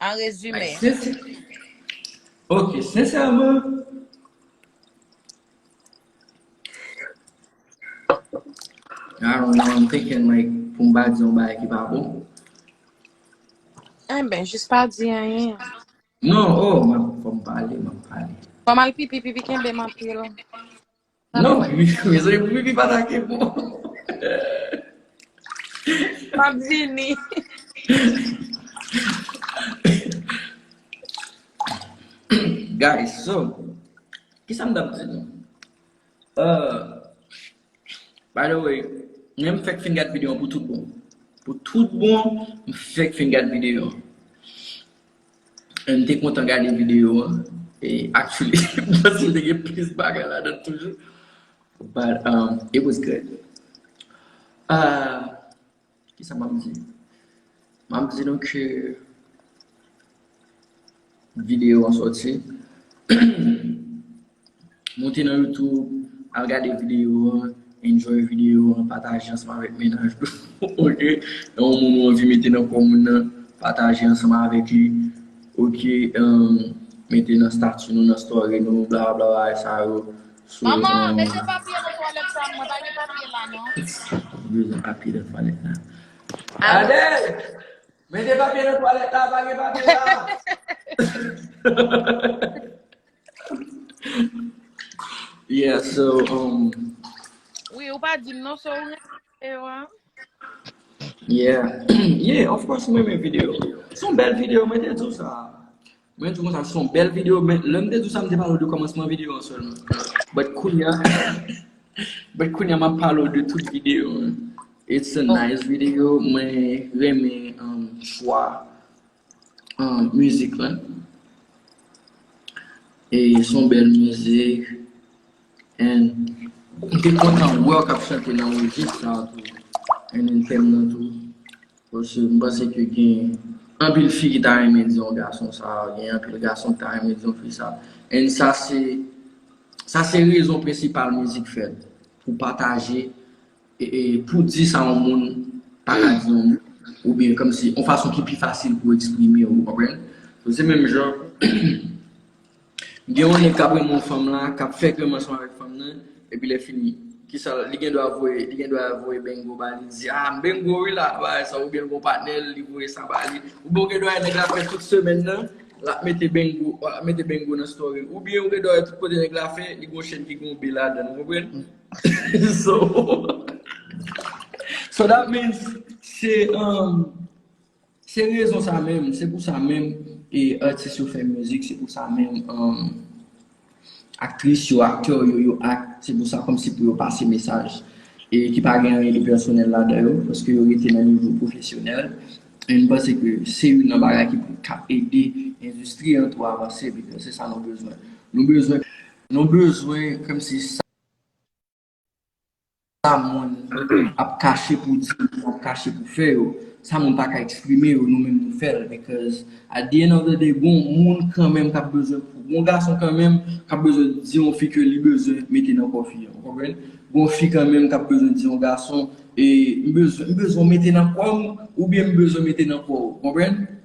An rezime. Ok, sensèman. I don't know, I'm thinking like pou m pa di yon bagay ki pa bon. Eh ben, jis pa di anyen. Non, oh, m ap fò m pale, m ap pale. Fò m al pipi, pipi kenbe m anpil. Non, mezanmi pou pipi pa take bon. Map vini. Guys, so, kisa m tap di nou? By the way, mwen m fèk fin gad videyo pou tout bon. Pou tout bon, m fèk fin gad videyo. M te kontan gade videyo an. Actually, m panse l te gen plis bagay ladan l toujou. But it was good. Kisa m ap di? M ap di nou ke videyo an soti. Monte nan youtube al gade video an enjoy video an pataje ansanm avèk mennaj ou ok nan yon moun ou anvi mete nan kò moun nan pataje ansanm avèk li ok mete nan stati nou nan story nou bla bla bagay sa yo Mama mete papye nan twalèt pam mwen pa gen papye la non. Mwen bezwen papye nan twalèt la Adèl mete papye nan twalèt la pa gen papye la. Yeah, so, um, Wi, ou pa dim non so ou renmen video an. yeah. yeah, of course mwen men video. Son bel video, mwen te di w sa. Mwen di w sa, son bel video, men lè m te di w sa, m te pale w de kòmansman video an sèlman. But kounya, but kounya map pale w de tout video an. It's a Oh, nice video, mwen renmen um, chwa. Mizik la E son bèl mizik And M te kontan wèw kap chante nan rejis sa tou And m te renmen tou Paske m panse ke gen Anpil fi ki ta renmen di yon gason sa Gen anpil gason ki ta renmen di yon fi sa And sa se Sa se rezon prensipal mizik fèt Pou pataje Pou di sa yon moun pa ka di yon moun, oubyen kòm si yon fason ki pi fasil pou eksprime ou konprann. Sou se menm jan, gen yon nèg k ap renmen yon fanm la, k ap fè krèm ansanm avèk fanm nan, epi lè fini, ki sa l, li gen dwa voye, li gen dwa voye bengo ba li, li di, a, m bengo wi la, bagay sa, oubyen l gen yon patnè l, li voye sa ba li, oubyen ou gen dwa wè nèg la fè tout semèn nan, l ap mete bengo, l ap mete bengo nan story l, oubyen ou gen dwa wè tout kote nèg la fè, li gen yon chèn ki gen yon be ladan l, ou konprann? So that means se Se rezon sa menm Se pou sa menm E atis yo fè mizik Se pou sa menm Aktris yo, aktè yo yo ak Se pou sa kòmsi pou yo pase mesaj E ki pa gen anyen de pèsonèl la dan yo Paske yo rete nan nivou pwofesyonèl E m panse ke se youn nan bagay ki pou ka ede Endistri an tou avanse Bikòz se sa nou bezwen Nou bezwen Nou bezwen kmsi sa moun ap kache pou di yo ap kache pou fè yo sa moun pa ka eksprime yo nou menm nou fèl because at the end of the day gon moun kanmenm kap bezwen gon gason kanmenm kap bezwen di yon fi ke li bezwen mete nan kò fi an ou konprann gon fi kanmenm kap bezwen di yon gason m bezwen m bezwen w mete nan kò m oubyen m bezwen mete nan kò w ou konprann.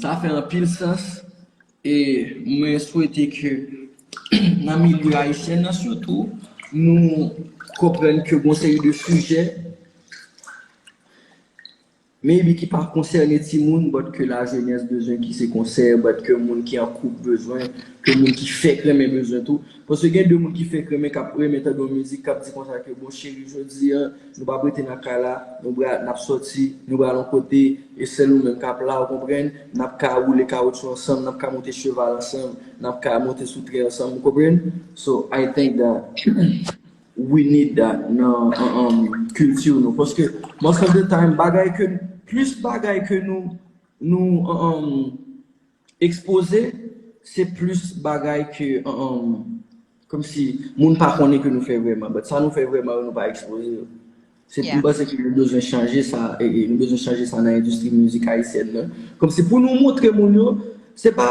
Sa fè anpil sans e mwen swete ke nan milye ayisyen nan sitou nou konprann ke gon seri de sijè maybe ki pa konsène timoun but ke lajenès bezwen, ki se konsèy but ke moun ki an koup bezwen, ke moun ki fèk renmen bezwen tou. Paske gen de moun ki fenk renmen kap renmen tande yon mizik kap di konsa ke bon cheri jodi an nou pap rete nan kay la nou pral nap sòti nou pral yon kote e sèl ou menm kap la ou konprann nap ka woule kawoutchou ansanm nap ka monte cheval ansanm nap ka monte sou tren ansanm ou konprann so I think that we need that nan culture nou paske most of the time bagay ke plis bagay ke nou nou Ekspoze se plis bagay ke umm komsi moun pa konnen ke nou fè vrèman but sa nou fè vrèman yo nou pa ekspoze yo se m panse ke nou bezwen chanje sa nou bezwen chanje sa nan endistri mizik ayisyèn nan komsi pou nou montre moun yo se pa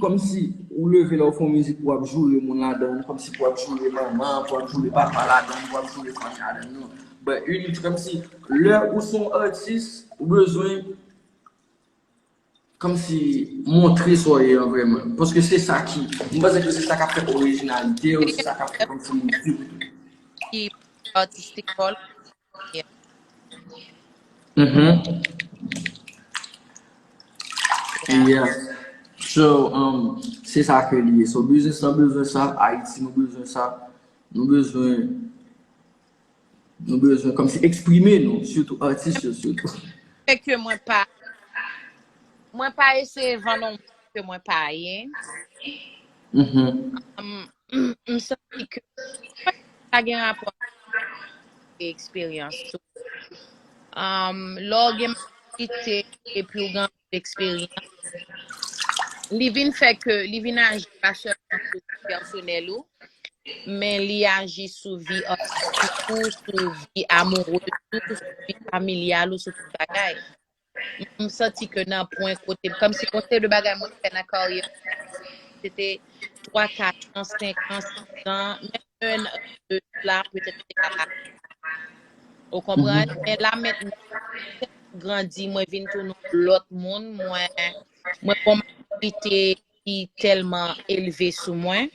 komsi ou leve lè w fè yon mizik pou w ap joure moun ladan l komsi pou w ap joure manman an pou w ap joure papa ladan l pou w ap joure fanmi a ladan l non but komsi lè ou se yon atis ou bezwen. Kòmsi montre sa w ye an vrèman. Paske se sa ki. M panse ke se sa k ap fè orijinalite w, se sa k ap fè kòmsi moun swiv ou tou. Ki artistic call yeah. Uhmm yeah so se sa ke li ye so business lan bezwen sa ayiti nou bezwen sa nou bezwen. Nou bezwen komsi eksprime nou sitou atis yo sitou. Se ke mwen pa mwen pa eseye vann on moun ke mwen pa ye. M santi ke mwen pa gen rapò ak eksperyans tou. Lè w gen majorite epi w gen eksperyans li vin fè ke li vin aji pa sèlman sou vi pèsonèl ou, men li aji sou vi artistik ou, sou vi amoureuse ou, sou vi familyal ou, sou tout bagay. M santi ke nan pwen kote, kòmsi gon seri de bagay mwen fè nan karyè mwen, se te 3, 4 an, 5 an, 6 an, menm 1 an de sla, petèt m te ka pa fè. Ou konprann? Men la mentnan, se grandi mwen vin tounen yon lòt moun mwen mwen gon maturite ki tèlman elve sou mwen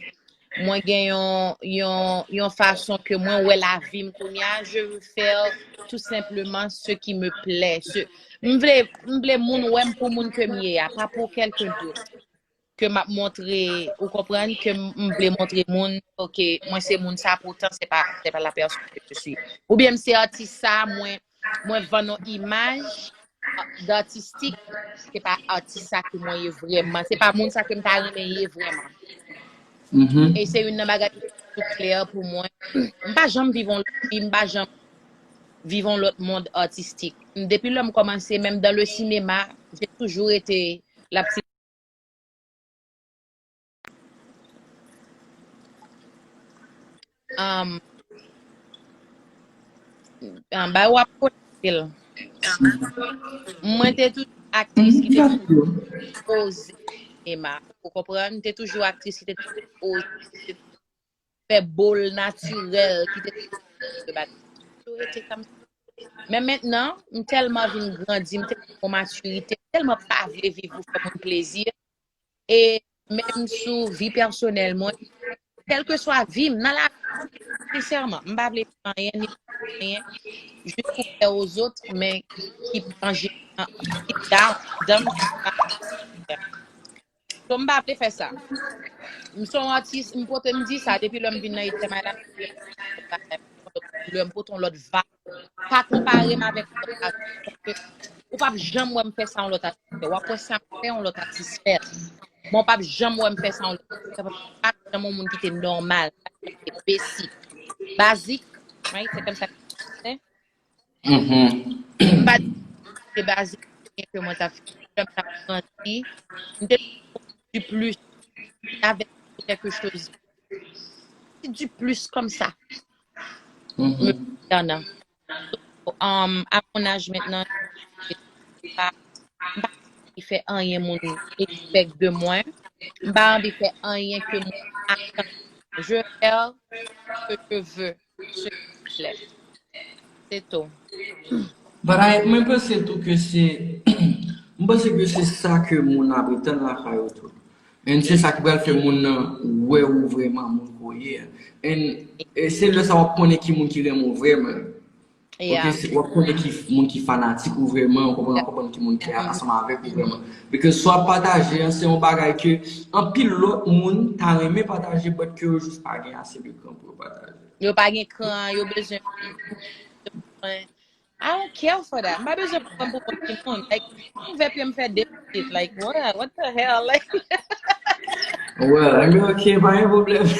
mwen gen yon yon yon fason ke mwen wè lavim kounya je veux faire tout simplement ce qui me plaît ce m vle m vle moun wèm pou moun kem ye a pa pou quelqu'un d'autre ke map montre ou konprann ke m vle montre moun ok mwen se moun sa poutan se pa se pa la pèson ke je suis ou byen m se atis sa mwen mwen vann on imaj d'artistik se pa atis sa ke mwen ye vrèman se pa moun sa ke m ta renmen ye vrèman mm-hmm. e se youn nan bagay ki tout klè pou mwen m pa janm viv on lòt vi m pa janm viv on lòt mond artistik depi lè m kòmanse menm dan le sinema jè toujou rete la pti Bay wap konekte l. Mwen te tout aktris ki te oze sinema. Ou konprann? Te toujou aktris ki te oze. fè bol natirèl ki te toujou nan vye bagay yo toujou rete kan menm men mentnan m tèlman vin grandi m tèlman gen yon matirite m tèlman pa vle viv pou fè moun plezi e menm sou vi pèsonèl mwen kèlkeswa vi m nan lavi sensèman m pa vle di anyen ni pa vle di anyen jis pou plè ozot men ki pa anje deep down anndan m ki pa So m pa vle fè sa. M son atis, m pote m di sa depi lè m vin nan Ijtema la m di lè m pote yon lòt bagay, m pote yon lòt koulè, m pote yon lòt vibe. Pa konpare m avèk yon lòt atis paske ou p ap janm wè m fè sa yon lòt atis fè. W ap wè sa m fè yon lòt atis fè l. Men w p ap janm wè m fè sa yon lòt atis fè paske m pa janm yon moun ki te nòmal, m pa janm te basic. Basic, right? Se kòm sa yo di an fransè. M pa t gen baze byen ke mwen t ap fè. Lè m t ap grandi, m te toujou konn di plis lè avèk m se kèlke choz de ti di plis kòm sa me konsènan. So, um, a mon âge maintenant, je sais pas, m pa anvi fè anyen moun expect de mwen. M pa anvi fè anyen ke moun atann de mwen. Je fè ce que je veux. silvouplè. Se tou. Bagay, mwen panse tou ke se, mwen panse ke se sa ke moun ap etann lakay ou tou. And se sa ki pral fè moun nan wè ou vrèman moun ke w ye a. And se lè sa wap konnen ki moun ki renmen w vrèman. Ok, se wap konnen ki moun ki fanatik ou vreman, ou konprann wap konprann ki moun ki ansanm avèk ou vreman. Because sa wap pataje an se yon bagay ke anpil lòt moun ta renmen pataje but ke yo jis pa gen ase de kran pou yo pataje. Yo pa gen kran, yo bezwen mwen. I don't care for that. M pa bezwen pran pou kont ki moun. Like, m ouvè pyem fè de pitit. Like, what? What the hell? Like. Well, anyway, ok, pa gen problem.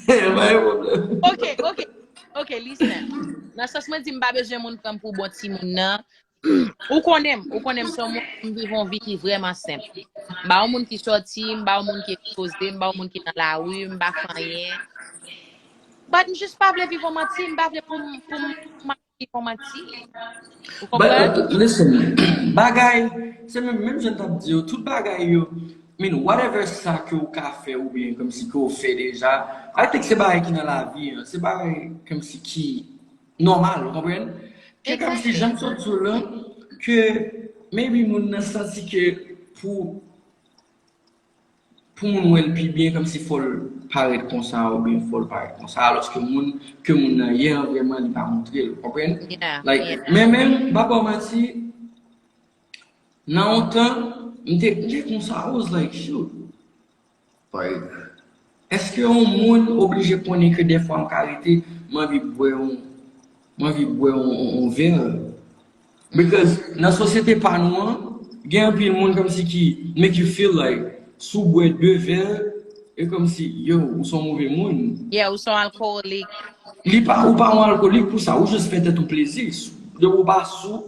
Pa gen problem. Ok, ok. Ok, listen. Nan sans mwen di m pa bezwen moun pran m pou bon timoun nan. Ou konnen m, ou konnen m son moun m viv yon vi ki vreman senp. M pa yon moun ki sòti, m pa yon moun ki ekspoze, m pa yon moun ki nan lari, m pa fanyen. But m jis pa vle viv yon manti, m pa vle pou m pou m pou m ap viv yon manti. Ou But konprann? listen, bagay, se menm menm jan m t ap di yo, tout bagay yo Min whatever sa ke ou ka fè ou byen kòmsi ke ou fè deja, I think se bagay ki nan lavi an, se bagay kòmsi ki nòmal ou konprann? Ke kòmsi janm sot di w lan ke maybe moun nan santi ke pou pou moun wè l pi byen kòmsi fò l parèt konsa ou byen fò l parèt konsa alòske moun ke moun nan ye an vrèman li pa montre l ou konprann? Like men menm m pa ba w manti. Nan yon tan, m te knte konsa I was like shoot eske yon moun oblije konnen ke dèfwa m ka rete m anvi bwè yon m anvi bwè yon vè because nan sosyete pa nou an gen anpil moun kòmsi ki make you feel like si w bwè 2 vè e kòmsi yow ou son move moun. Yeah ou son alkowolik. Ou pa yon alkowolik pou sa ou just fè tèt ou plezi depi w pa sou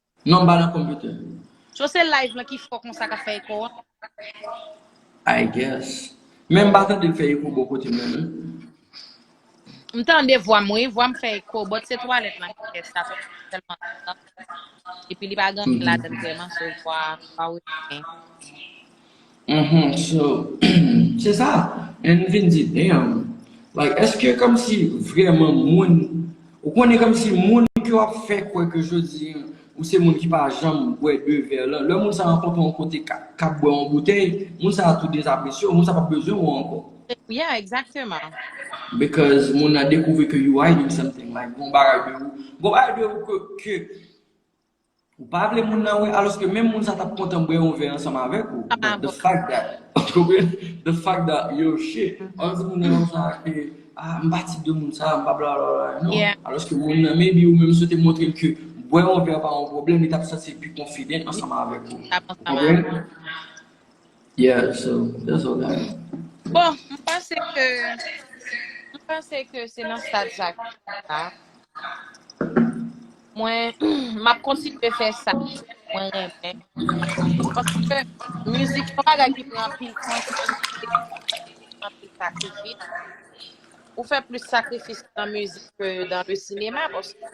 Non ba nan computer. So se live lan ki fò konsa kap fè eko an? I guess. Men m pa tande l fè eko bò kote mwen non. M tande vwa m wi, vwa m fè eko but se twalèt lan ki fè sa paske li tèlman silansyez epi li pa gen anyen ladann vrèman so vwa a pa rete byen. Uhmm so se sa and m vin di damn like eske komsi vreman moun ou konnen komsi moun ke wap fè kwè ke jodi an ou se moun ki pa janm bwè 2 vè lan lè moun sa rankontre w yon kote kap bwè yon boutèy moun sa tou dezapresye w moun sa pap bezwen w anko. Yeah exactement. Because moun nan dekouvri ke you hiding something like gon bagay de ou gon bagay de ou ke Ou pa vle moun nan wè aloske menm moun sa tap kontan bwè yon vè ansanm avèk ou. The fact that, ou konprann? The fact that yo shit, an di moun nan konsa ke ah m pa tip de moun sa, m pa bla bla bla, non. Aloske moun nan maybe ou menm si w te montre l ke bwè yon vè pa yon pwoblèm li tap santi l pi confident ansanm avèk ou. Ou konprann? Yeah so that's all I know. Bon, m panse ke, m panse ke se nan stad sa ke mwen la. Mwen, m ap kontinye fè sa mwen renmen. Paske mizik se yon bagay ki pran anpil tan, ki pran anpil efò, ki pran anpil sakrifis. Ou fè plis sakrifis nan mizik ke nan le sinema paske.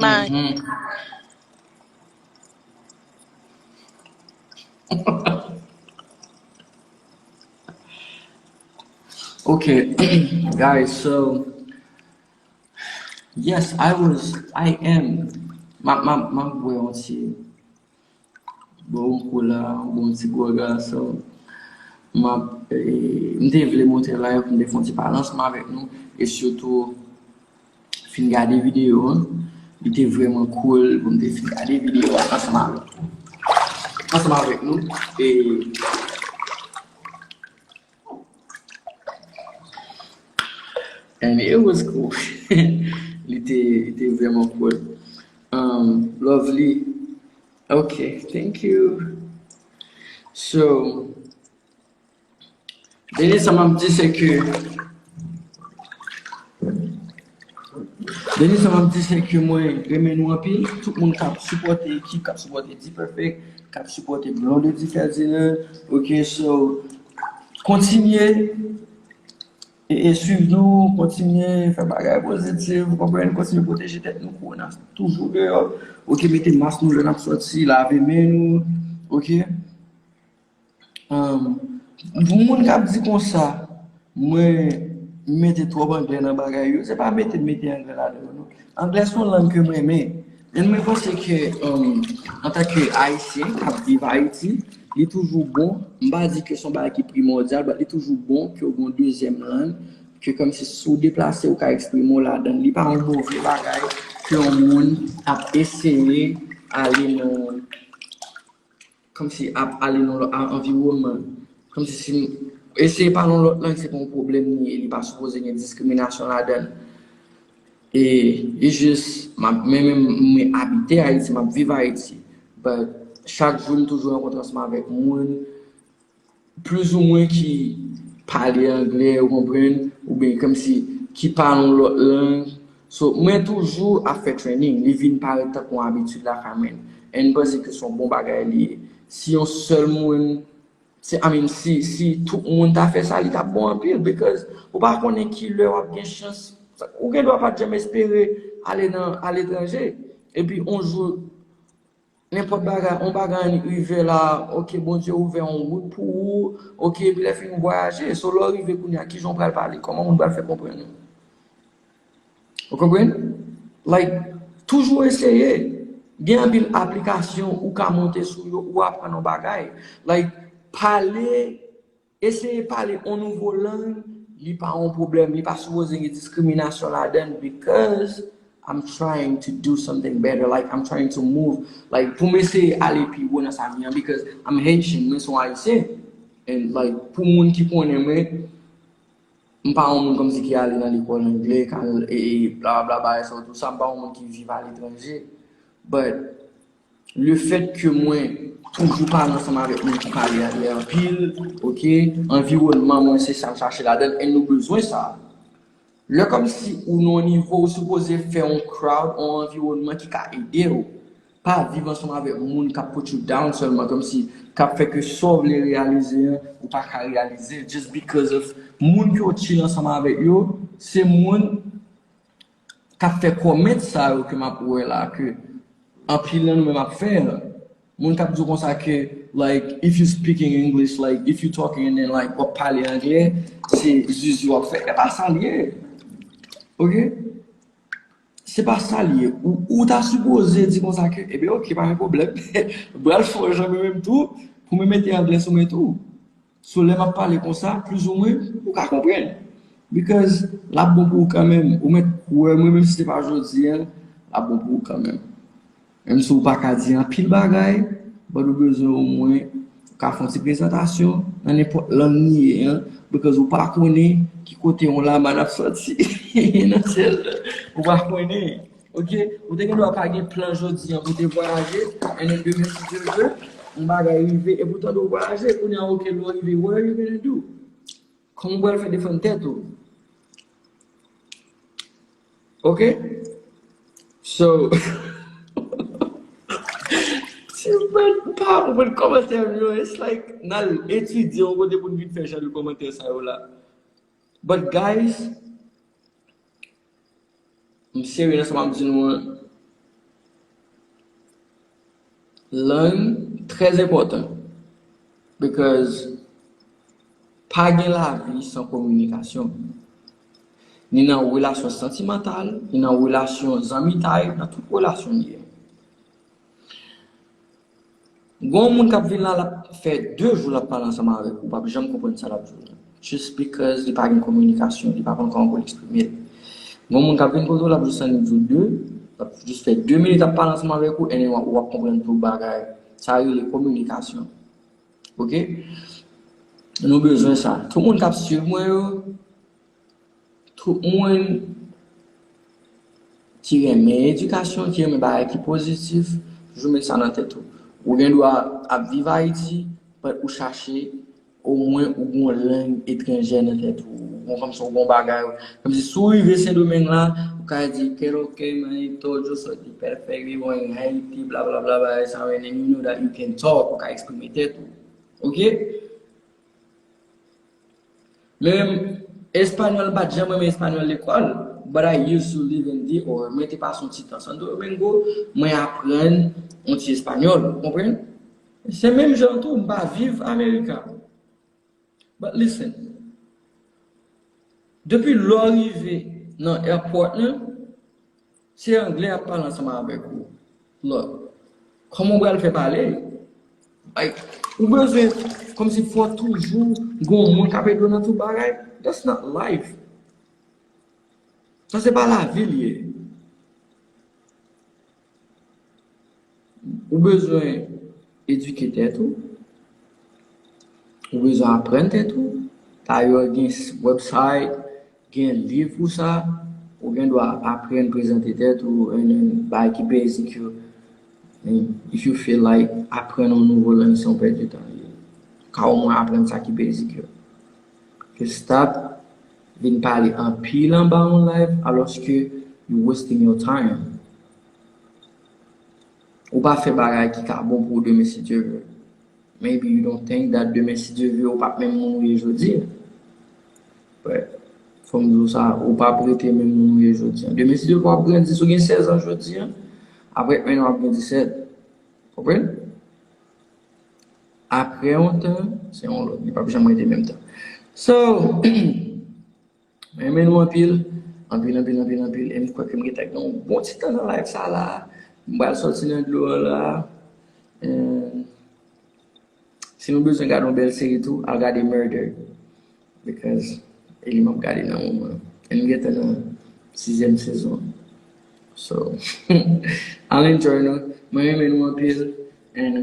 Mari. Ok, guys, so, yes, I was, I am, ma, ma, ma, bwe yon ti, Bon kou la bon ti gwo gason. Map m te vle monte la pou m te fon ti balansman avèk nou e sitou fin gade videyo an. Li te vreman cool pou m te fin gade videyo an ansanm avèk nou. Ansanm avèk nou e And it was cool Li te li te vreman cool um, Lovely Ok, thank you So Dènye sa m ap di se ke Dènye sa map di se ke mwen renmen nou anpil, tout moun kap sipòte ekip, kap sipòte D-Perfect, kap sipòte Blondedy Ferdinand, ok so kontinye e swiv nou, kontinye fè bagay pozitif, konprann, kontinye pwoteje tèt nou, kowona toujou deyò, ok mete mas nou lè nap sòti, lave men nou, ok. Pou moun kap di konsa mwen mete twòp anglè nan bagay yo, se pa mete m mete anglè ladan yo non. Anglè se yon lang ke m renmen. E mwen panse ke antanke Ayisyen kap viv Ayiti, li toujou bon, m pa di ke se yon bagay ki primòdyal, bat li toujou bon ke w gen yon dezyèm lang ke kòmsi si w deplase ou ka eksprime w ladan l. Li pa yon move bagay ke yon moun ap eseye ale nan. Kòmsi ap ale nan lòt anviwònman, kòmsi si nou eseye pale yon lòt lang se pa yon pwoblèm li ye, li pa sipoze gen diskriminasyon ladan l. E li jis, mwen menm mwen abite Ayiti, m ap viv Ayiti, but chak jou m toujou rankontre ansanm avèk moun Plizoumwen ki pale anglè ou konprann oubyen kòmsi ki pale yon lòt lang so mwen toujou ap fè training li vin parèt tankou yon abitid lakay mwen and m panse ke se yon bon bagay li ye si yon sèl moun si i mean si si tout moun ta fè sa li tap bon anpil because ou pa konnen kilè wap gen chans ou gendwa pat janm espere ale nan aletranje epi yon jou Nenpòt bagay on bagay ann rive la ok Bondye ouvè on wout pou ou ok epi lè fini ou vwayaje so lè w rive kounye a kijan w pral pale kòman moun pral fè konprann ou ou konprann like toujou eseye gen anpil aplikasyon ou ka monte sou yo ou aprann on bagay like pale. Eseye pale on nouvo lang li pa on pwoblèm, li pa sipoze gen diskriminasyon ladann bikòz I'm trying to do something better like I'm trying to move like pou m eseye ale pi wo nan sa m ye an bikòz I'm Haitian mwen son Ayisyen and like pou moun ki konnen mwen m pa on moun kòmsi ki ale nan lekòl angle kal e blablabla bagay sa yo tou sa m pa on moun ki viv aletranje but Le fèt ke mwen toujou pale ansanm avèk moun ki pale a lè anpil, ok, anviwònman mwen se sam chache ladanl and nou bezwen sa. Lè kòmsi ou nan yon nivo ou sipoze fè yon crowd, yon anviwònman ki ka edew, pa viv ansanm avèk moun kap put you down sèlman kòmsi kap fè ke sa w vle reyalize an ou pa ka reyalizel just because of moun ke w chill ansanm avèk yo se moun kap fè comment sa yo ke map wè la ke anpil nan nou menm ap fè moun kap diw konsa ke like if you speaking English like if you talking and then like wap pale anglè se zuzu wap fè epa sa liye ok se pa sa liye ou ta sipoze di konsa ke ebe ok pa gen problem bral fò jan mwen menm tou pou mwen mete anglè sou mwen tou. So lè map pale konsa plus ou mwen ou ka konprann because lap bon pou ou kanmenm ou mèt kwè mwen menm si se pa jodi an lap bon pou ou kanmenm menm si ou pa ka di anpil bagay but ou bezwen o mwen ou ka fon ti prezantasyon nan nenpòt lang nou ye an because ou pa konnen ki kote yon laman ap sòti nan syèl la ou pa konnen. Ok ou te gen dwa pa gen plan jodi an pou te vwayaje and then demen si Dieu veut yon bagay rive epi ou tande ou vwayaje kounye an ok lè w rive what are you gonna do? Kòman ou pral fè defann tèt ou? Ok so ti frèt m pa konprann kòmantè m yo it's like n al etidye yon kote pou n vin fè jan de kòmantè sa yo la but guys M serye nan sa map di nou an. Lang trè enpòtan bikòz pa gen lavi san kominikasyon. Ni nan relasyon santimantal, ni nan relasyon zanmitay, nan tout relasyon nou ye. Gon moun kap vin la lap fè 2 jou lap pale ansanm avèk ou pap janm konprann sa lap di w nan just because li pa gen kominikasyon li pa konn kòman pou l eksprime l gon moun kap vin kote w lap just annik di w 2 lap just fè 2 minit ap pale ansanm avèk ou and ou ap konprann tout bagay sa yo rele kominikasyon ok nou bezwen sa tout moun kap swiv mwen yo Tout moun ki renmen edikasyon, ki renmen bagay ki pozitif, toujou met sa nan tèt ou. Ou gen dwa ap viv Ayiti, but ou chache omwen ou gen yon lang etranjè nan tèt ou. Bon, kòmsi ou gen yon bagay, kòmsi si ou rive Sendomeng la, ou ka di que lo que manito, yo soy tu perfect, vivo en Haiti, blablabla, bagay sa yo, and then you know that you can talk, ou ka eksprime tèt ou. Ok? Men español m pat janm renmen español lekòl but I used to live in DR. Mwen te pase yon ti tan Santo Domingo, mwen aprann yon ti español, ou konprann? Se menm jan tou m pa viv America. But listen, depi lè w rive nan airport lan, Se anglè yap pale ansanm avèk ou lot Koman ou pral fè pale like ou bezwen komsi fò toujou gon moun kap ede w nan tout bagay that's not life sa se pa lavi li ye. Ou bezwen edike tèt ou, ou bezwen aprann tèt ou, dayè gen website, gen liv pou sa, ou gen dwa aprann prezante tèt ou and then bagay ki basic yo if you feel like aprann yon nouvo lang se yon pèt de tan li ye, ou ka omwen aprann sa ki basic yo ke stop vin pale anpil anba yon live alòske you wasting your time. Ou pa fè bagay ki ka bon pou ou demen si Dye vle. Maybe you don't think that demen si Dye vle ou pap menm moun ou ye jodi an. But, fò m di w sa, ou pap rete menm moun ou ye jodi an. Demen si Dye vle wap grandi, si w gen 16 ans jodi an, aprè un an wap gen 17. Konprann? Aprè yon tan, se yon lòt, li pap janm rete menm tan. So, Mwen renmen nou anpil, anpil anpil anpil anpil e m kwè ke m gentan gen yon bon ti tan nan live sa la a. M pral sòti nan dlo an la a. Si nou bezwen gade yon bèl seri tou, al gade Murder. Because e li m ap gade nan moman an. E m gentan nan sizyèm sezon an. So, al enjoy nou. Mwen renmen nou anpil and.